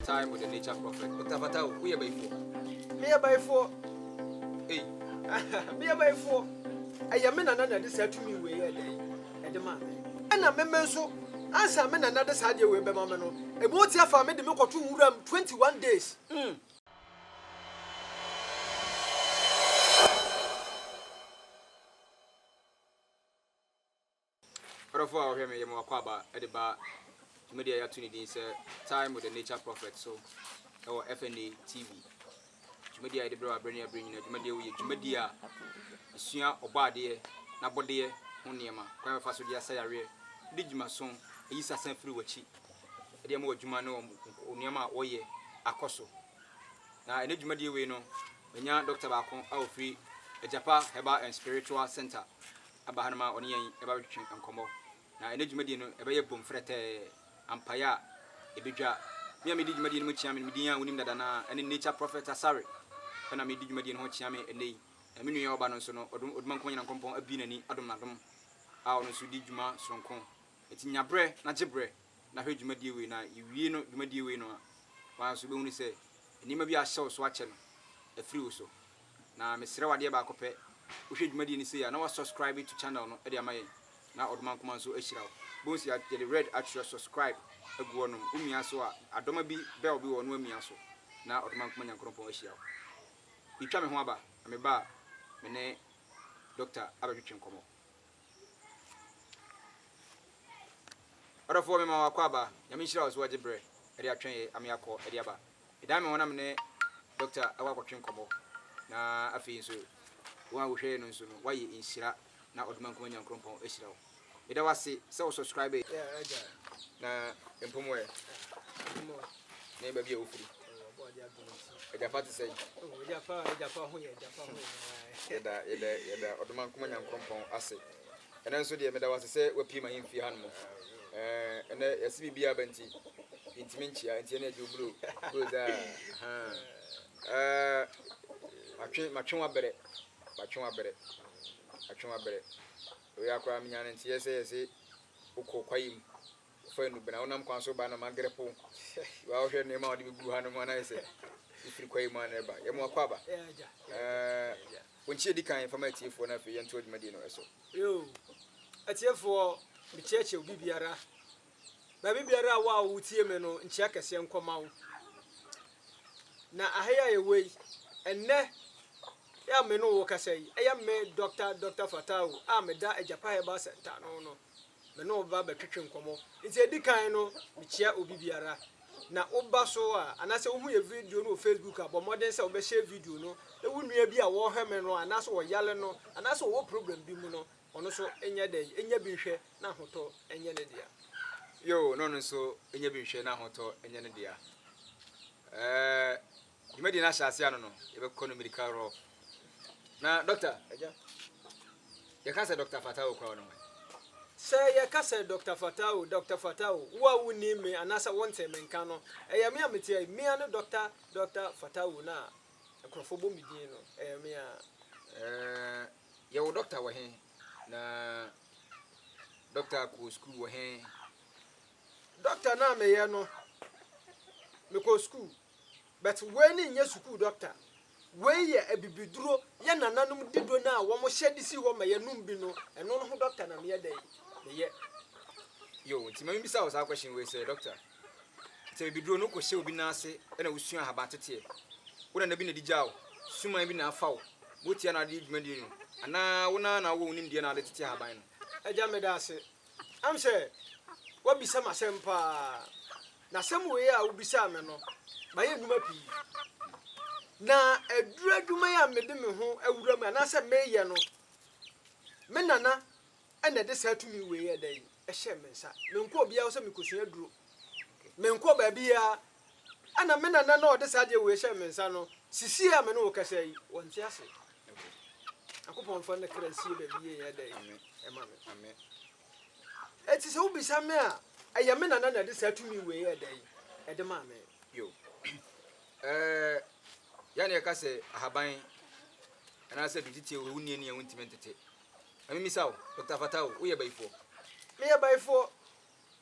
Time with the nature prophet. Patapata o, woyɛ bayifoɔ. Meyɛ bayifoɔ. Ei, meyɛ bayifoɔ. Ɛyɛ me nana na ɛde saa tumi wei yɛ dɛn ɛde maa me. Ɛna me me nso, ansa me nana de saa adeɛ wei bɛma me no, ɛbɔ otia faa me de me kɔto nwuram 21 days. Mm. Ɔdɔfo a ɔhwɛ me yɛ me w'akwaaba de ba dwumadi a yɛato ne din sɛ Time with the Nature Prophet so wɔ FNA TV. Dwumadi a yɛde brɛ wɔ abere ne abere nyinaa. Dwumadi a yɛ dwumadi a esua ɔbɔ adeɛ n'abɔdeɛ ho nneɛma, kwan a wɔfa so de asa yareɛ, de dwuma so, ayi sasa firi w'akyi, de ama w'adwuma ne wɔn nneɛma a wɔyɛ akɔ so. Na ɛnɛ dwumadi wei no, manya dɔkta baako a ɔfiri Agyapa Herbal and Spiritual Center. aba hanom a ɔne yɛn reba abɛtwetwe nkɔmmɔ. Na ɛnnɛ dwumadie no, ɛbɛyɛ bom frɛtɛɛ, ampaeɛ a ɛbɛdwa. Me a medi dwumadie no mu kyeame no, me din a wonim dada no ara, ɛne Nature Prophet Asare pɛ na medi dwumadie no ho kyeame ɛnnɛ yi. Na me nua a ɔba no nso no, ɔde Odumankoma Nyankopɔn abue n'ani adom no adom a ɔno nso redi dwuma sononko. Enti nya berɛ na gye berɛ na hwɛ dwumadie wei, na yɛwie no dwumadie wei no a, wo ara nso wobɛhunu sɛ nneɛma bi a ahyɛ wo so akyɛ no, afiri wo so. Na mesrɛ wo adeɛ baako pɛ, wohwɛ dwumadie no sei a na wa subscribe to channel no de ama yɛn na Ɔdomankoma nso ahyira wo. Bohu sei a yɛde red atwerɛ subscribe agu hɔ nom, wo mia so a adɔma bi bell bi wɔ hɔ na wamia so na Ɔdomankoma Nyankoropɔn ahyira wo. Yetwa me ho aba, na meba a me ne Doctor abɛtwetwe nkɔmmɔ. Ɔdɔfoɔ me ma wakɔ aba. Nyame nhyira wo so wagye berɛ de atwɛn yɛ ame akɔ de aba. Medan me ho na me ne Doctor akɔ akɔtwe nkɔmmɔ na afei nso wo a wo hwɛ yɛ no nso no wayɛ nhyira na ɔdoma nkuma Nyankrompɔn ahyira wo. Meda wo ase sɛ wo subscribe yɛ na mpomɔɛ. ne baabi a wofiri agyafa te sɛ yɛda yɛda yɛda ɔdoma nkoma nyankoropɔn ase ɛnɛ nso deɛ meda wase sɛ wapie ma yɛmfie ha no mu ɛnɛ yɛse biribiaa ba nti yɛntimi nkyia nti ɛne agye oburo goza matwe matwe wabrɛ matwe wabrɛ matwe wabrɛ oyɛ akoraa menyane nteɛ sɛ yɛse wokɔ kwayi mu Wofa Enubena a, wonam kwan so ba na magere po. Wa wohwɛ nneɛma a wɔde begugu hanom a na ayɛ sɛ efiri kwae mu a na ɛreba. Yɛma wakɔ aba. Ɛɛ, wo nkyia di kan fa ma atiefoɔ na afei yɛntoa dwumadie no so. Yoo, atiefoɔ, mekyerɛkyerɛ obi biara, baabi biara a wo a wotie me no, nkyia kɛseɛ nkɔ ma wo. Na aha yi a yɛwɔ yi, ɛnnɛ yɛ a me ne wo rekasa yi, ɛyɛ me Dɔkta Dɔkta Fatawu a meda Agyapa Herbal Centre ano no. me ne wo ba bɛtwetwe nkɔmmɔ. Nti edi kan no, mikyia obi biara. Na woba so a, anaasɛ wuhu yɛn video no wɔ Facebook a, bɔ mmɔden sɛ wobɛhyɛ video no. Na wo nua bi a wɔrehwɛ me no, anaasɛ ɔyare no, anaasɛ ɔwɔ problem bi mu no, ɔno nso nyɛ dɛn? Nya bi nhwɛ na ahotɔ nyɛ ne dea. Yoo, na ɔno nso nya bi nhwɛ na ahotɔ nyɛ ne dea. Ɛɛ, Dwumadie no ahyɛ aseɛ ano no, yɛbɛkɔ no mirika rɔ. Na Dɔkta, agya, yɛka sɛ Dɔkta Fatawo koraa ɔno hwan? Sɛ yɛka sɛ Dɔkta Fatawo, Dɔkta Fatawo, wo a wonnim me anaasɛ wontee me nka no, ɛyɛ me a meteɛ yi. Me ara ne Dɔkta, Dɔkta Fatawo no a nkurɔfoɔ bɔ me din no, ɛyɛ me ara. Ɛɛ, yɛ wo dɔkta wɔ he? Na dɔkta kɔɔ sukuu wɔ he? Dɔkta no a meyɛ no, mekɔɔ sukuu. But wei no nyɛ sukuu dɔkta, wei yɛ abibiduro, yɛ nananom dido no a wɔn hyɛ de si hɔ ma yɛ nom bi no, ɛno no ho dɔkta na me yɛ dɛn meyɛ. Yoo, nti ma me bisa wo saa question wei sɛ, dɔkta, sɛ abibiduro no kɔ hyɛ obi nan ase ɛna wo sua ahaban teteɛ, wo nana bi na ɛde gyaa wo, suman bi na afa wo, motia na ade dwumadie no, anaa wo nan ara na wo wɔ wo nimdeɛ na ade tete ahaban no? Agya meda ase, Am sɛ woabisa me asɛm paa, na asɛm wei a wobisaa me no, mayɛ nnwuma pii. Na aduru adwuma yi a mede me ho awura mu anaasɛ meyɛ no, me nana na ɛde saa tumi wei ɛdɛ yi ɛhyɛɛ me nsa. Menkɔ obiara hɔ sɛ mekɔsua aduro. Menkɔ baabiara Ɛnna me nana no a ɔde saa adeɛ wei hyɛɛ me nsa no sisii a me ne wo kasa yi, wɔnte ase. Nyankopɔn mfa ne kra nsie baabi yie nyɛ dɛn ɛma me. Eti sɛ wobisa me a, ɛyɛ me nana na ɛde saa tumi wei yɛ dɛn ɛde maa me. Yo. Ɛɛ, yɛne yɛka sɛ ahaban anaasɛ dutete o, wonni ani a wontumi ntete. Ɛmemisa wo, Dr. Fata o, woyɛ bayifoɔ? Meyɛ bayifoɔ.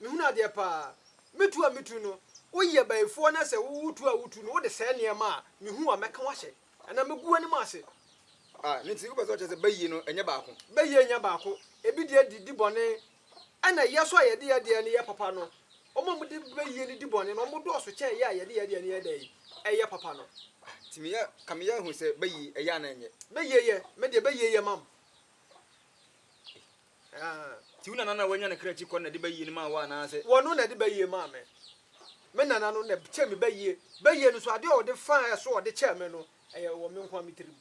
Mehunu adeɛ paa. Me tu a me tu no, woyɛ abayifoɔ na sɛ wo tu a wo tu no wode sɛɛ nneɛma a, mehu a mɛka wo ahyɛ anaa mɛgu w'anim ase. Ah, ne nti wopɛ sɛ ɔkyerɛ sɛ bayie no ɛnyɛ baako? Bayie nyɛ baako. Ebi deɛ de di bɔne, ɛna yɛ nso a yɛde yɛ deɛ no yɛ papa no, wɔn a wɔde bayie no di bɔne no, wɔdɔɔso kyɛn yɛ a yɛde yɛ deɛ no yɛ dɛn? Ɛyɛ papa no. Ah, nti meyɛ, ka meyɛ ahu sɛ bayie ɛyɛ anaa ɛnyɛ? Bayie yɛ, me deɛ bayie yɛ ma me. Aa nti wo nana na wanya ne kra akyi kɔ na de bayie no maa wo anaase? Wɔno na de bayie maa me. Me nana no na kyɛɛ me bayie. Bayie no nso adeɛ a ɔde faa ɛso a ɔde kyɛɛ me no ɛyɛ wɔ me nko ara me tirim.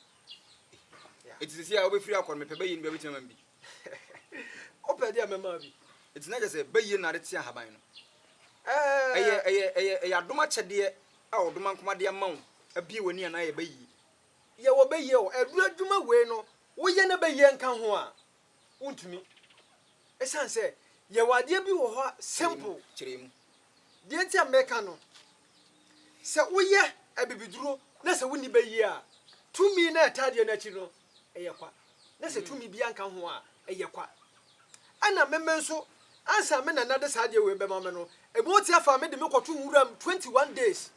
Yeah. Nti sɛsi a wobɛfiri akɔ no mepɛ bayie no bi a wobɛtumi ama me bi? Wopɛ deɛ mɛma bi. Nti na kyɛ sɛ bayie no na ade te ahaban no? Ɛyɛ Ɛɛ ɛyɛ ɛyɛ ɛyɛ adom akyɛdeɛ a ɔdoma nkoma de ama wo abue w'ani anaa ɛyɛ bayie? yɛwɔ bayie o. Aduro adwuma wei no woyɛ na bayie nka ho a Wontumi. Esiane sɛ yɛwɔ adeɛ bi wɔ hɔ a simple. Kyerɛ mu. Deɛ nti a meka no, sɛ woyɛ abibiduro na sɛ wonni bayie a, tumi no a ɛtaa adeɛ no akyi no, ɛyɛ kwa. Na sɛ tumi biara nka ho a, ɛyɛ kwa. Ɛna meme nso, ansa me nana de saa adeɛ wei bɛma me no, ebi wote afaa me de me kɔto nwura mu 21 days.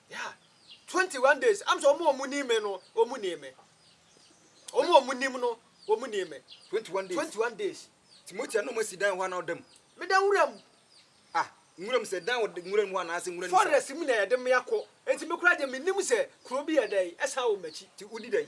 Yeah, 21 days. I'm so more money me no, or money me. Or more money no, or money me. 21 days. 21 days. Timothy, I know my sedan one of them. Me dan wuram. Ah, wuram sɛ dan wɔ wuram hɔ anaasɛ wuram. Forest mu na yɛde me akɔ. Enti me kura de me nim sɛ kuro bi yɛ dɛ ɛsan wɔ m'akyi. Ti wudi dɛn?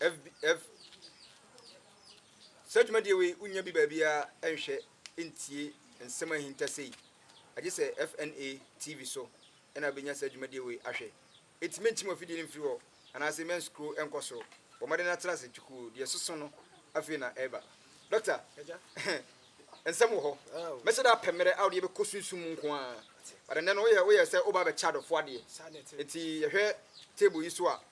FBF, Saa dwumadie wei wonnya bi baabiara nhwɛ ntie nsɛm ahintasɛ yi agye sɛ FNA TV so na wobɛnya saa dwumadie wei ahwɛ. Enti mɛntim afidie no mfiri hɔ anaasɛ mɛn scroll nkɔ soro. Bɔ mmɔden na tra ase kyukuu, deɛ ɛsoso no afei na ɛreba. Doctor, nsɛm wɔ hɔ. Mɛhyɛ da apɛ mmerɛ a wode yɛbɛkɔ sunsum mu nko ara. But ɛnnɛ no woyɛ woyɛ sɛ woba abɛkyɛ adɔfoɔ adeɛ. Enti yɛhwɛ table yi so a,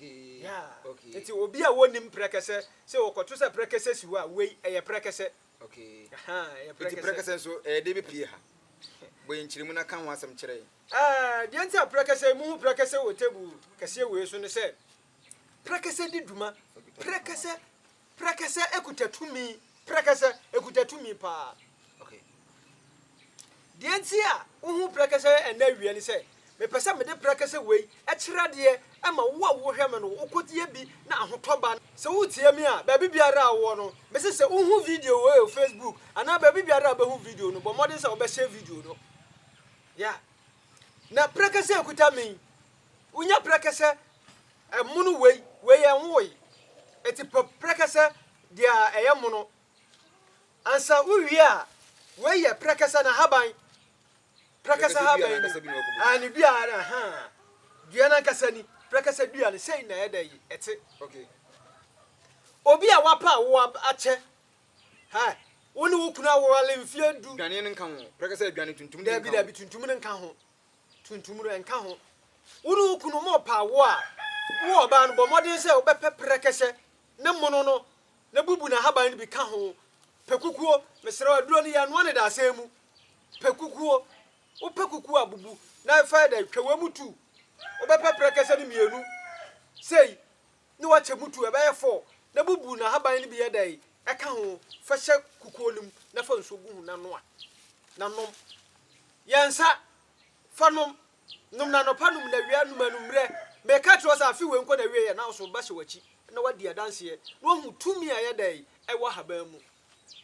Yeah Nti obi a wonnim prɛkɛsɛ sɛ wɔkɔto sɛ prɛkɛsɛ si hɔ a wei ɛyɛ prɛkɛsɛ Aha Nti prɛkɛsɛ nso ɛyɛ dɛn bepue ha? Bɔ yɛn nkyerɛmu na ka ho asɛm kyerɛ yɛn. Ah deɛ nti a prɛkɛsɛ mohu prɛkɛsɛ wɔ table kɛseɛ wei so ne sɛ prɛkɛsɛ di dwuma prɛkɛsɛ Prɛkɛsɛ ekuta tumi, prɛkɛsɛ ekuta tumi paa. Okay. Deɛ nti a wohu prɛkɛsɛ ɛnna awia ne sɛ, mepɛ sɛ mede prɛkɛsɛ wei kyerɛ adeɛ ma wo a wohwɛ me no, wokɔyɛ bi na ahotɔ ba. Sɛ woretie me a, baabi biara a wowɔ no, mese sɛ wohu video wei wɔ Facebook anaa baabi biara a wobɛhu video no, bɔ mmɔden sɛ wobɛhyɛ video no. Yeah. Na prɛkɛsɛ ekuta me yi, wonya prɛkɛsɛ Ɛmono wei, wei yɛ nwowa yi. Ɛte pɛ prɛkɛsɛ deɛ a ɛyɛ mono. Ansa wowie a, wei yɛ prɛkɛsɛ n'ahaban. Prɛkɛsɛ haban ni. Ah, ne dua ara, ahaa. Dua no ankasa ni. Prɛkɛsɛ dua no, sei na ɛyɛ dɛ yi, ɛte. Obi a wapa a wo akyɛ, ha, wo ne wo kunu awale mfeɛ du. Dwane no nka ho. Prɛkɛsɛ adwane tuntum de nka ho. Dabi, dabi, tuntum no nka ho. tuntum no, ɛnka ho. Wo ne wo kunu morepa awoɔ a, wo ɔbaa no, bɔ mmɔden sɛ wobɛpɛ prɛkɛsɛ ne mono no na bubu n'ahaban no bi ka ho. Pɛ kukuo, mesrɛ wo, aduro no yɛnoa no dadesɛn mu. Pɛ kukuo, wopɛ kukuo a, bubu na fa yɛ dɛ, twa wei mu tu. Wobɛpɛ prɛkɛsɛ no mmienu sei na wakyɛ mu tu, ɛbɛyɛ four, na bubu n'ahaban no bi yɛ dɛn? Ɛka ho, fa hyɛ kukuo no mu na fa nsuo gu ho na noa, na nom. Yɛ nsa, fa nom. Nom no anɔpa, nom no awia, nom anwummerɛ. Mereka akyerɛ wo sɛ afe wei nkɔ n'awieeɛ na wo so ba hyɛ w'akyi na woadi adanseɛ na woahu tumi a ɛyɛ dɛn? Ɛwɔ ahaban mu.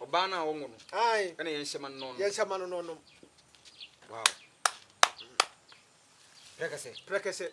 Ɔbaa no a ɔnwo no, Ae, ɛna yɛn hyɛ ma no na ɔnom. yɛn hyɛ ma no na ɔnom. Wow. Prɛkɛsɛ. Prɛkɛsɛ.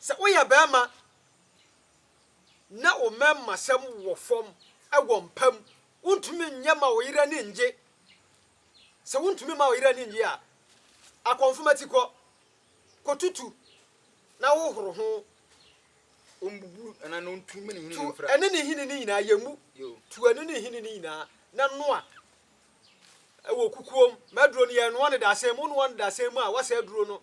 Sɛ woyɛ barima na wo mmarimasɛm wɔ fam wɔ mpa mu, wontumi nyɛ ma wo yere ani nnye. Sɛ wontumi mma wo yere ani nnye a, akɔnfoma ti kɔ, kɔtutu na hohoro ho. Ɔmbubu anaa na ɔntu mene hini Tu mfra. ɛne ne hini no nyinaa yɛ mu. Yo. Tu ɛne ne hini no nyinaa na noa wɔ kukuom. Ma aduro no yɛnoa no dasɛn mu. Wonoa no dasɛn mu a, woasɛ aduro no.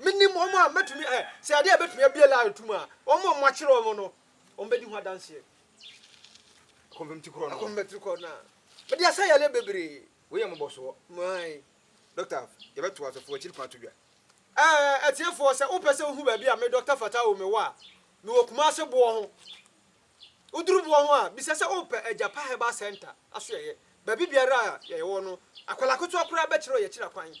Menim wɔn a mɛtumi ɛ, sɛ adeɛ a ɛbɛtumi abue laa no tom a, wɔn a wɔakyere wɔn no, wɔbɛdi ho adanseɛ. Akɔmpem ti korɔ no. Akɔmpem ti korɔ no a. Mede asa yale bebree. Wei yɛ mmɔbɔsoɔ. Mae. Dɔkta, yɛbɛto asɔfoɔ akyiri kwan ato dwa. Ɛɛ, atiefoɔ, sɛ wopɛ sɛ wohu baabi a me, Dɔkta Fatawu, mewɔ a, mewɔ Kumase boɔ ho. Woduru boɔ ho a, bisa sɛ wopɛ Agyapa Herbal Centre asoɛeɛ. Baabi biara a yɛwɔ no, akwadaa ketewa koraa bɛkyerɛ wo yɛn akyiri akwan.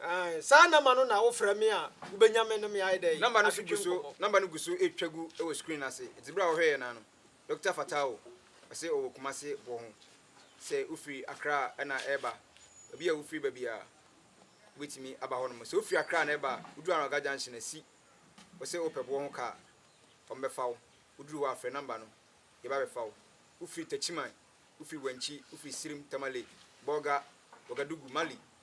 Aane, saa namba no na wo frɛ me a wo bɛnya me ne me ayɛ dɛn? Namba no so gu so, namba no gu so retwa gu wɔ screen no ase, nti berɛ a wɔhwɛɛ yɛn nan no, Dɔkta Fatawo, ɔse ɔwɔ Kumasi boɔ ho, sɛ wo firi Accra na ɛreba, baabi a wo firi ba biara wo bɛtumi aba hɔ nom, sɛ wo firi Accra na ɛreba a, wo duru Anɔga junction asi, wo se wo pɛ boɔ ho car a, wɔn bɛfa wo, wo duru hɔ a frɛ namba no, yɛba abɛfa wo, wo firi Techiman, wo firi Wenchi, wo firi Sirim, Tamale, Bolga, Ouagadougou, Mali,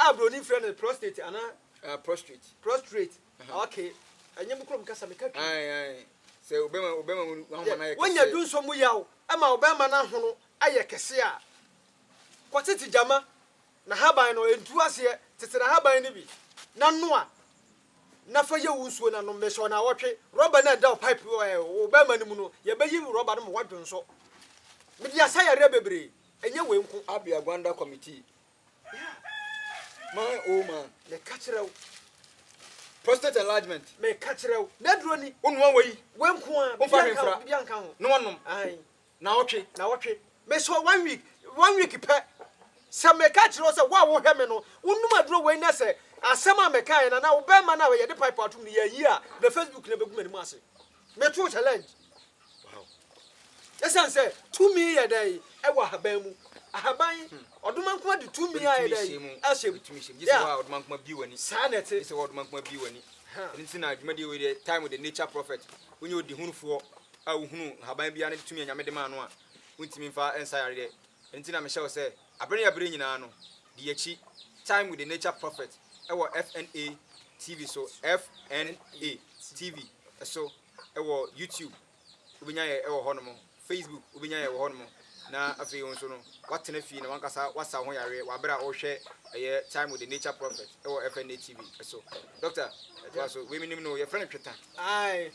A broni frɛ no prostate anaa. Ah prostrate. Prostrate aha okay ɛnyɛ mo kurom kasa meka twi. Ae ae sɛ obɛma obɛma mu ahoma no ayɛ kɛseɛ. Wonya dunso mu yaw ɛma obɛma no ahono ayɛ kɛseɛ a kɔ tete gyama na haban no ɛntu aseɛ tete na haban no bi na noa na fa yɛ wo nsuo na nom mesɛ ɔnawɔtwe rɔba no a ɛda wo pipe wo ɛɛ wo bɛma no mu no yɛbɛyi rɔba no ma woadwonsɔ mede asa yareɛ bebree ɛnyɛ wei nko. Abia Gwanda committee Man oh man, meka kyerɛ wo. Prostate enlargement. Meka kyerɛ wo. N'aduro ni. Wonua wei. Wei nko a. Womfa hwee mfra. Bibi anka ho. Na wanom. Ahan. Na wɔtwe. Na wɔtwe. Mesɔ one week. One week pɛ. Sɛ meka kyerɛ wo sɛ wo a wohwɛ me no, wonom aduro wei na sɛ asɛm a mekaeɛ no anaa wo bɛrima no a yɛde pipe atom no yɛayi a, na Facebook no bɛgu m'anim ase. Metoo challenge wow Esiane sɛ tumi yɛ dɛ wɔ ahaban mu Ahaban ɔdomankoma de tumi ayɛ dɛ ahyɛ mu Yeah saa na ɛte Aha Ɛno nti na dwumadie wei deɛ tie with the nature prophet Wonyɛ odihunufoɔ a wohunu nhaban biara ne tumi a Nyame de maa no a wontumi mfa nsa yareɛ Ɛno nti na mehyɛ wo sɛ Abere a bere nyinaa no, di akyi, Time with the Nature Prophet wɔ FNA TV so, FNA TV so, wɔ YouTube, wobɛnya yɛ wɔ hɔnom, Facebook, wobɛnya yɛ wɔ hɔnom, na afei wo nso no, woatena fie na w'ankasa woasa wo ho yareɛ wɔ abere a worehwɛ ɛyɛ Time with the Nature Prophet wɔ FNA TV so. Doctor, toa so, wei menim no, yɛfrɛ no tweta. Aye,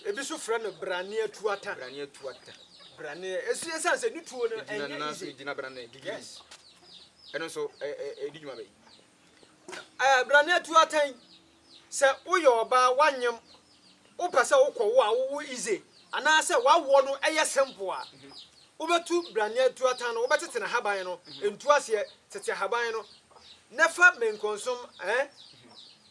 ebi nso frɛ no Braneatuata. Braneatuata. Branee, ɛsi ɛsiane sɛ ne tuo no ɛnyɛ nanso ɛgyina branee gigiri yes ɛno nso ɛdi dwuma bɛyi ɛɛ branee tuo atɛn sɛ woyɛ ɔbaa wanyem wopɛ sɛ wokɔ wo a wowo ize anaasɛ wawoɔ no ɛyɛ simple a wobɛtu branee tuo atan no wobɛtete n'ahaban no ntu aseɛ tete ahaban no na fa menkonsom ɛɛ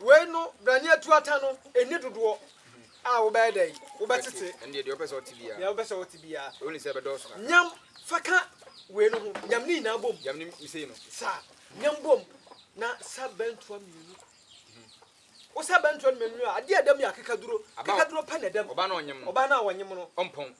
Wei no bra ne yɛtu ata no ɛnni dodoɔ a wobɛyɛ dɛn? Wobɛtete. Ɛndeɛ deɛ wopɛ sɛ ɔte biara. Deɛ wopɛ sɛ ɔte biara. Ɛwɔ ne sɛ ɛbɛdɔɔso kakra. Nyam fa ka wei no ho, nyam ne nyinaa bom. Nyam ne mesei no. Sa, nyam bom na sa bɛntoa mmienu. Wo sa bɛntoa no mmienu a, adeɛ a ɛdam yɛ akekaduro. Akekaduro pɛ na ɛdam. Ɔbaa no a ɔnyem no. Ɔbaa no a ɔnyem no. Ɔmpɔn.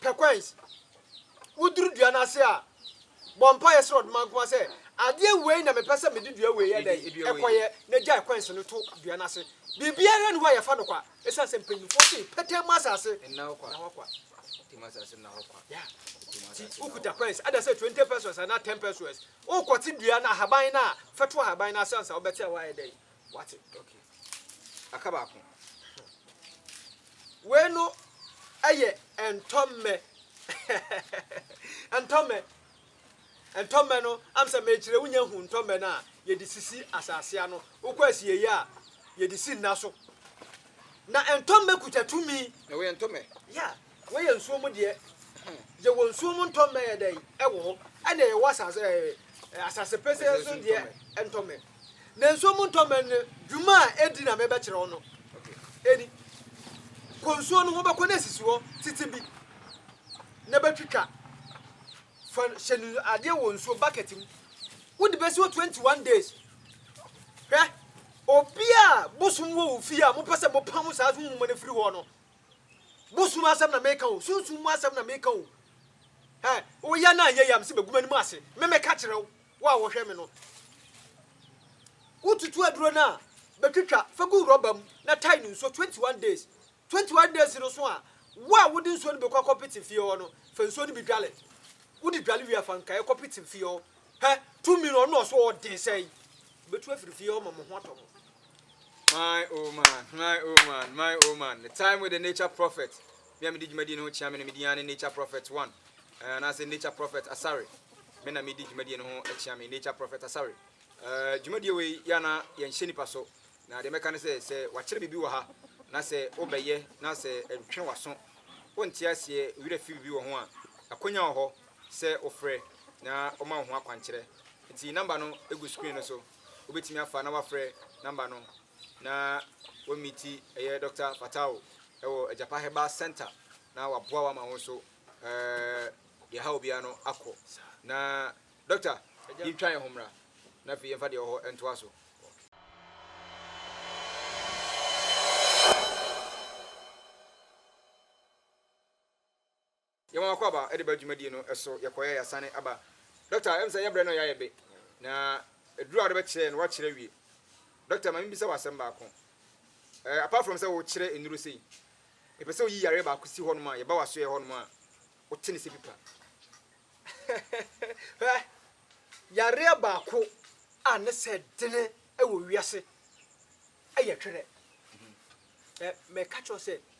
Perquins, woduru dua no ase a, bɔ mpaeɛ srɛ Ɔdomankoma sɛ, Adeɛ wei na mepɛ sɛ mede dua wei yɛ dɛn? Kɔyɛ, na gyae coins no to dua no ase. Biribiara nni hɔ a yɛfa no kwa, ɛsiane sɛ mpanimfoɔ se, Pɛtɛɛ mu asase nna hɔ kwa. Nti wokuta coins, ada sɛ twenty pesos anaa ten pesos, wokɔte dua no ahaban no a, fɛto ahaban no ase ansa wobɛte a, woayɛ dɛn? Wate okay aka baako. Wei no ɛyɛ ntɔmmɛ ntɔmmɛ ntɔmmɛ no am sɛ mekyerɛ wonya hu ntɔmmɛ no a yɛde sisi asase ano wokɔ asieyi a yɛde si nna so na ntɔmmɛ kuta tumi na wɔyɛ ntɔmmɛ yeah Wɔyɛ nsuo mu deɛ, gye wɔ nsuo mu ntɔmmɛ yɛ dɛn wɔ hɔ, ɛna ɛwɔ asase ɛɛ asase pɛsɛɛ so deɛ ntɔmmɛ. Na nsuo mu ntɔmmɛ no dwuma a ɛdi na mebɛkyerɛ wo no, ɛni. Kɔ nsuo no ho, bɛkɔ na sisi hɔ tete bi, na bɛtwitwa. Fa hyɛ no adeɛ wɔ nsuo bucket mu, wode bɛsi hɔ 21 days. Hwɛ, obi a bosom wɔ wo fie a mopɛ sɛ mopam saa so nwoma no firi hɔ no, Bosom asɛm na meka o, sunsum mu asɛm na meka o. Ɛ, woyɛ no anyɛ yie a, mese bɛgu m'anim ase. Me meka kyerɛ wo, wo a wɔhwɛ me no. Wotutu aduro no a, bɛtwitwa, fa gu rɔba mu na tae no nsuo 21 days. 21 days no so a, wo a wode nsuo no bi kɔ akɔpete fie hɔ no, fa nsuo no bi dwale. Wode dwale wie a, fa nkaeɛ kɔpete fie hɔ. Hɛ, tumi no, ɔno na ɔso ɔden sɛn. Bɛtu afiri fie hɔ ma mo ho atɔ mo. My oh man, my oh man, my oh man. The time with the nature prophet. Me a medi dwumadie no ho kyea me no medi ara ne nature prophet one. Eh, anaasɛ nature prophet asare. Me na medi dwumadie no ho kyea me nature prophet asare. Eh, dwumadie wei yɛ ana yɛnhyɛ nipa so. Na deɛ mɛka ne sɛ sɛ wakyerɛ biribi wɔ ha na sɛ wobɛyɛ na sɛ ɛntwe waso wonte aseɛ werɛ fi biribi wɔ ho a akwanya wɔ hɔ sɛ wofrɛ na ɔma wo ho akwankyerɛ. Nti namba no egu screen no so. wobɛtumi afa na wafrɛ number no na wa meeti ɛyɛ Doctor Fatawo ɛwɔ Agyapa Herbal Center na waboa wo ama wo nso ɛɛ deɛ ɛha obiara no akɔ na Doctor yɛn twa yɛn ho mmra na afei yɛn fa deɛ ɛwɔ hɔ ntoa so. Yɛn wɔn akwaaba de ba dwumadie no so yɛ kɔeɛ yasane aba Doctor yɛm sɛ yɛ brɛ no yɛ ayɛ be na aduru a wode bɛ kyerɛ no wa kyerɛ awie Doctor ma me bisa wo asɛm baako eh apart from sɛ wo kyerɛ nnuro sei mepɛ sɛ woyi yareɛ baako si hɔ nom a yɛ ba wasoɛ hɔ nom a wo te ne sɛ pipa hwɛ yareɛ baako a ne sɛ dene wɔ wiase ɛyɛ twerɛ eh mɛ ka kyerɛ sɛ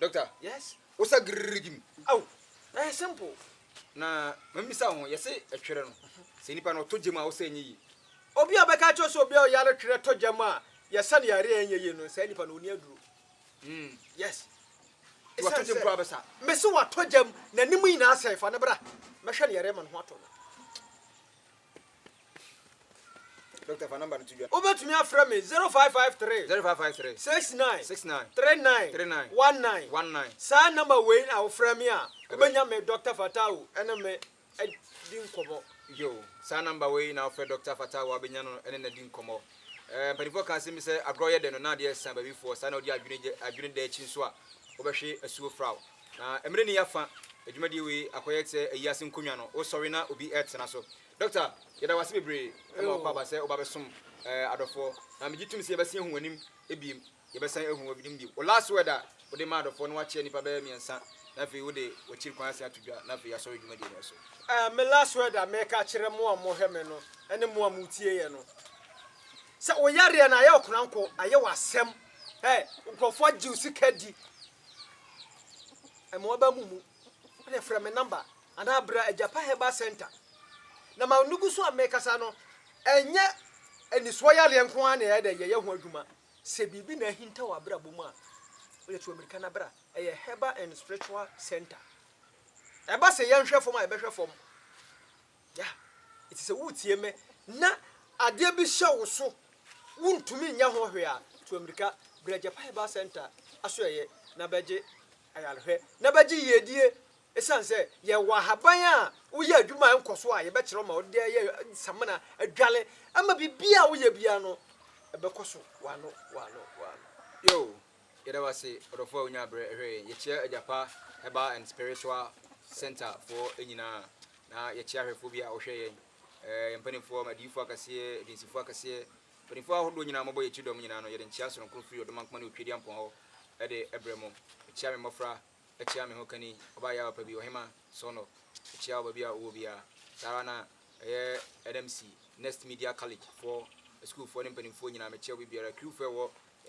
Doctor, yes, wo sa girrigi mu. Aw, ɛyɛ simple. Na mamisa wo ho, yɛse ɛtwerɛ no, sɛ nipa no ɔtɔ gyam a wosa ɛnyɛ yie. Obi a ɔbɛka akyerɛ wo sɛ obi a ɔyare twerɛ tɔ gyam a yɛsa no yareɛ a ɛnyɛ yie no, saa nipa no ɔnni aduro. Mm. Yes. Nti watɔ gyam koraa bɛsa? Mese watɔ gyam, n'anim nyinaa asɛe, fa no bra, mɛhwɛ no yareɛ ma ne ho atɔ no. Doctor fa number no to dwa. Wobɛtumi afrɛ me 0553. 0553. 69. 69. 39. 39. 19. 19. Saa number wei na wofrɛ me a wobɛnya me Doctor Fatawu ɛne me adi nkɔmmɔ. Yo, saa number wei na wofrɛ Doctor Fatawu a wobɛnya no ɛne no adi nkɔmmɔ. Ɛɛ mpanimfoɔ ka asɛm bi sɛ agorɔ yɛ dɛ no na adeɛ ɛsa baabifoɔ saa na wodi adwene gye adwene da akyi nso a wobɛhwe asuo fraw. Na mmerɛ ni yɛafa dwumadie wei akɔyɛ sɛ ayi ase nkonnwa no wosɔre na obi retena so. Doctor, yɛda wo ase bebree ma wakɔ aba sɛ woba bɛsom adɔfoɔ. Na megye tom sɛ yɛbɛsan ahu w'anim biem, yɛbɛsan ahu w'anim biem. Wo last word a wode ma adɔfoɔ no woakyea nnipa bɛyɛ mmiɛnsa na afei wode w'akyiri kwan asan ato dwa na afei yɛasɔre dwumadie no so. Eh, me last word a mɛka akyerɛ mo a mohwɛ me no ne mo a motie yɛn no, sɛ wo yareɛ no ayɛ wo koranko, ayɛ wo asɛm, eh, nkurɔfoɔ agye wo sika adi, Mmoaba mu mu na frɛ me number anaa bra Agyapa Herbal Centre. Na ma nugu so a mekasa no, ɛnyɛ anisoɔ yareɛ nko ara na ɛyɛ dɛ yɛyɛ ho adwuma. Sɛ biribi na ahinta wɔ abrabɔ mu a, wode to amirika na bra. Ɛyɛ Herbal and Spiritual Centre. Ɛba sɛ yɛnhwɛ fam a, yɛbɛhwɛ fam. Yah, enti sɛ wutie me na adeɛ bi hyɛ wo so wontumi nyɛ ho hwee a, tu amirika bra Japan Herbal Centre asoɛeɛ na bɛgye ayarehwɛ na bɛgye yiedie Ɛsiane sɛ yɛwɔ ahaban a woyɛ adwuma a ɛnkɔ so a, yɛbɛkyerɛ wo ma wode ayɛ samina, adwale ama biribiara a woyɛ biara no ɛbɛkɔ so w'ano w'ano w'ano. Yoo! Yɛda wo ase ɔdɔfoɔ a wonyaa berɛ hwɛɛ yɛn. Yɛkyia Agyapa Herbal and Spiritual Centre foɔ nyinaa, na yɛkyia ahwɛfoɔ bi a wɔhwɛ yɛn, eh, yɛn mpanimfoɔ, adiyifoɔ akɛseɛ, adwinsifoɔ akɛseɛ, mpanimfoɔ ahodoɔ nyinaa mɔbɔ yɛkyi dɔm nyinaa no, yɛde nkyia sononko firi Ɔdomankoma ne Otwedeampɔn hɔ de brɛ mo. Mekyia me mmɔfra. akyia me ho kani, ɔbaa yaawa pa bi, ɔhema, Sɔnɔ, akyia ɔba bi a ɔwɔ biara. Saa ara na ɛyɛ Adams Next Media College foɔ, asukuufoɔ ne mpanimfoɔ nyinaa, mekyia obi biara, crewfoɔ a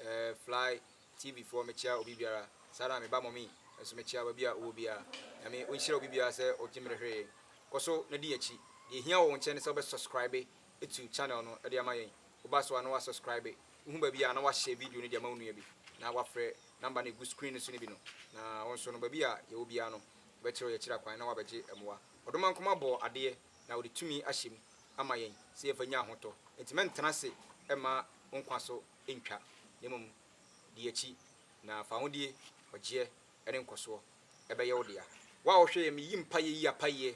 ɛwɔ Fly TV foɔ, mekyia obi biara, saa ara na me ba Mummy nso mekyia ɔba bi a ɔwɔ biara. Nyame ɔnhyira obi biara sɛ ɔgye me de hwere yɛn. Kɔ so na di yɛn akyi. Deɛ ɛhia wɔ wo nkyɛn ne sɛ wobɛ subscribe atu channel no de ama yɛn. Woba so a na wa subscribe, wohu baabi a na wahyɛ video no de ama wo nua bi na wafrɛ. Namba no egu screen no so no bi no, na wo nso no, baabi a yɛwɔ biara no, wobɛkyerɛw yɛn akyiri kwan na woabɛgye mmoa. Ɔdomankoma bɔɔ adeɛ na ɔde tumi ahyɛ mu ama yɛn sɛ yɛmfa nnya ahotɔ. Enti mɛntena ase mma wo nkwa so ntwa, na mmom di akyi, na fahodie, ɔgyeɛ, ne nkɔsoɔ bɛyɛ wo dea. Wo a ɔhwɛ yɛn, meyi mpaeɛ yi apaeɛ